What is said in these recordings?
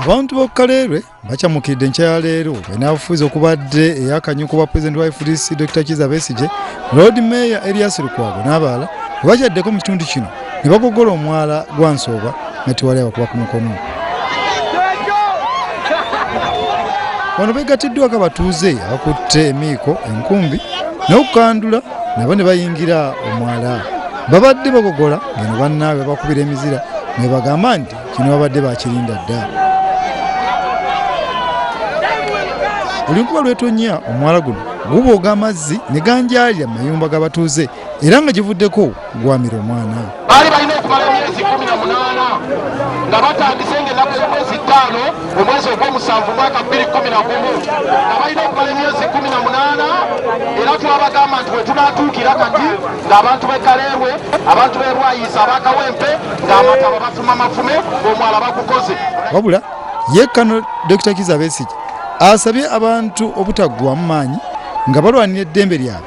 abantu b'okukalerwe bacamukidde enkya ya leero enaabufuzi okubadde eyakanyuka obwa pulezidenti wa fdc dr kiza besigye lord mayor elias lukwago n'abalala webakyaddeko mu kitundu kino ne bagogola omwala gwa nsooba nga tewali abakuba ku mukono wano begattiddwako abatuuze abakutte emiiko enkumbi n'okukandula nabo ne bayingira omwala babadde bagogola ngeno bannaabwe bakubira emizira nebagamba nti kino babadde bakirinda dda olunkuba lwetonnya omwala guno gubuuga amazzi ne ganjaalira mu mayumba g'abatuuze era nga givuddeko gwamira omwana baali balina okumala emyezi kumi na munaana nga batandise ngaenaku z'omwezi ttaano mu mwezi ogw'omusanvu mwaka bbiri kumi na gumu nga balina okumala emyezi kumi na munaana era twabagamba nti wetunatuukira kati ng'abantu b'e kaleerwe abantu b'e bwayiisa abakawempe ng'amataba bafuma mafume omwala bagukoze wabula ye kano dokita kiza besigye asabye abantu obutaggwamu maanyi nga balwanira eddembe lyabwe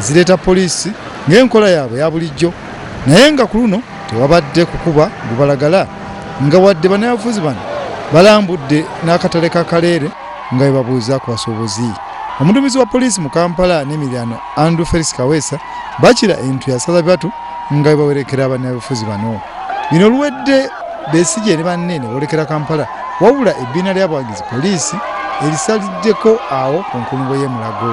zireeta poliisi ng'enkola yaabwe ya bulijjo naye nga ku luno tewabadde kukuba gubalagala nga wadde banayafuzi bano balambudde n'akatale ka kaleere nga bebabuuza ku basuubuzi omudumizi wa poliisi mu kampala n'emirano andrew felis kaweesa bakira entu yasaza bibatu nga bwe bawerekera bannabyabufuzi bano bino luwedde besigye ne banne ne boolekera kampala wabula ebbiina ly'abawagizi poliisi erisaliddeko awo ku nkulungo y'e mulago